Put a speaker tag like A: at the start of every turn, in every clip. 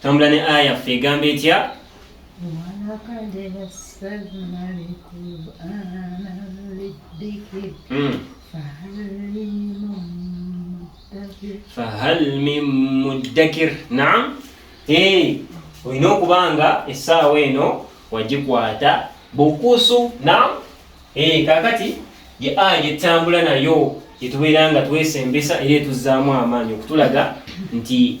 A: Tambula ne aya ffe egamba etya?
B: Hmm.
A: fahal min muddakir naam eh, olina okuba nga essaawa eno wagikwata bukusu naam eh, kakati ye aya gyetambula nayo gyetubeera nga twesembesa era etuzzaamu amaanyi okutulaga nti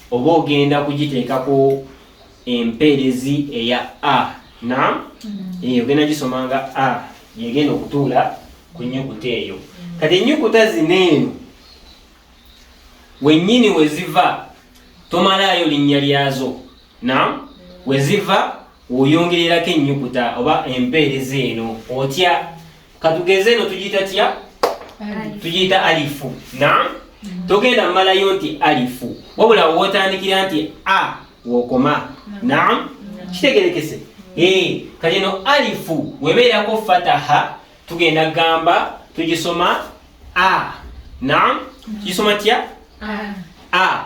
A: Oba ogenda kugiteekako empeerezi eya a nam mm-hmm. eyo ogenda gisoma nga a yegenda okutuula ku nyukuta eyo mm-hmm. kati enyukuta zino eno wenyini weziva tomalaayo linnya lyazo nam mm-hmm. weziva woyongererako enyukuta oba empeerezi eno otya katugeze eno tugiyita tya tugiyita alifu na togenda mmalayo nti alifu wabula wotandikira nti a wokoma nam kitegerekese eh, kati eno alifu webeerako fataha tugenda gamba tugisoma a nam tugisoma tya a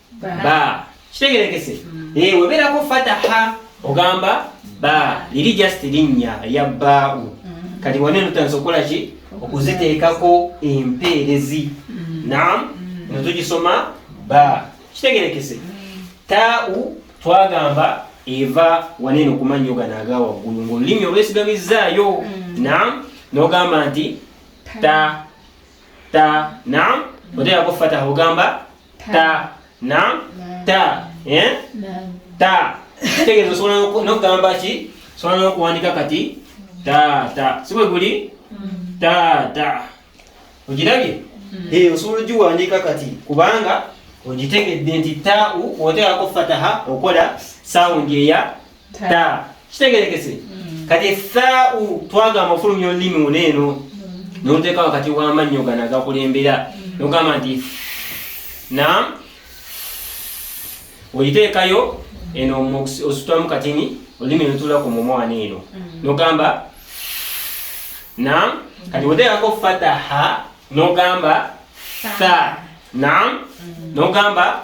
A: ba kitegerekese mm. eh weberako fataha ogamba ba liri just linya ya bau mm. kati wane nutanso kola ki okuziteekako empeerezi mm. nam netugisoma ba kitegerekese tau twagamba eva wanene okumanya ogana aga waggulu ngaolulimi olwesigamizzaayo nam nogamba nti ta ta nam oteekako fataha ogamba ta na ta eh? ta kitegeeza osobola nokugamba ki osobola nokuwandika kati taata sibwe guli mm. taata ogirabye mm. eh, osobola ogiwandika kati kubanga ogitegedde nti tau oteekako fataha okola sawundi eya ta kitegerekese mm. kati esaau twagamba ofulumya olulimi uno eno mm. noteeka wakati wamannyo gana gakulembera mm. nogamba nti na oyiteekayo eno osutamu katini olulimi notula ku mumwana eno nogamba na kati oteekako fataha nogamba sa na nogamba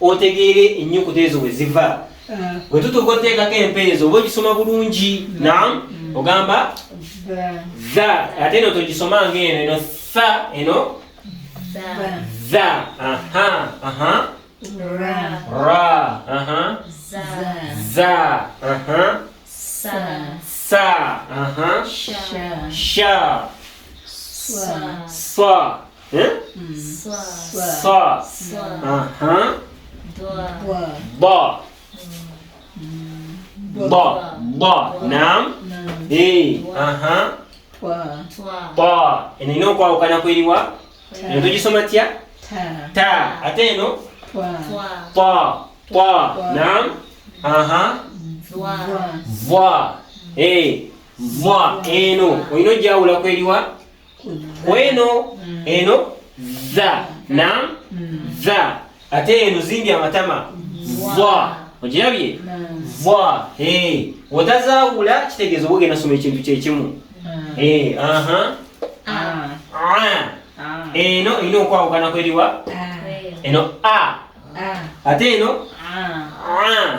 A: otegeere ennyukuta ezo we ziva ah. bwe tutuuka oteekako empeezo oba ogisoma bulungi mm. nam mm. ogamba za ate eno togisoma nga eno eno sa eno za aha aha ra ra aha za za aha sa sa aha sha sha sa sa eh? sa aha ba ba ba nam e aha twa eno ina okwawukana kweriwa eno tugisoma tya ta ate eno twa twa nam aha vwa e vwa eno olina ojawula kweriwa kweno mm. eno za na mm. za ate eno zimbye amatama za ogirabye za otazaawula kitegeeza oba ogenda soma ekintu kyekimu Eh, aha. Ah. Ah. Ah. Eh, no, ino kwa ukana kweli wa? Ah. Eno eh, a. Ah. Ate ino? Ah. Ah.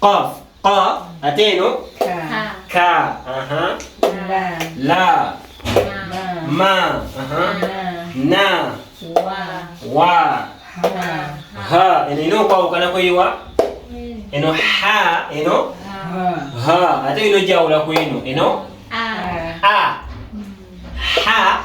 A: Qaf. Qa. Ate eno. Ka. Ka. Aha. La. La. Ma. Aha. Na. Wa. Wa. Ha. Ha. Eno ino okwawukana kweyiwa. Eno ha. Eno. Ha. Ha. Ate ino jawula kweno. Eno. A. A. Ha.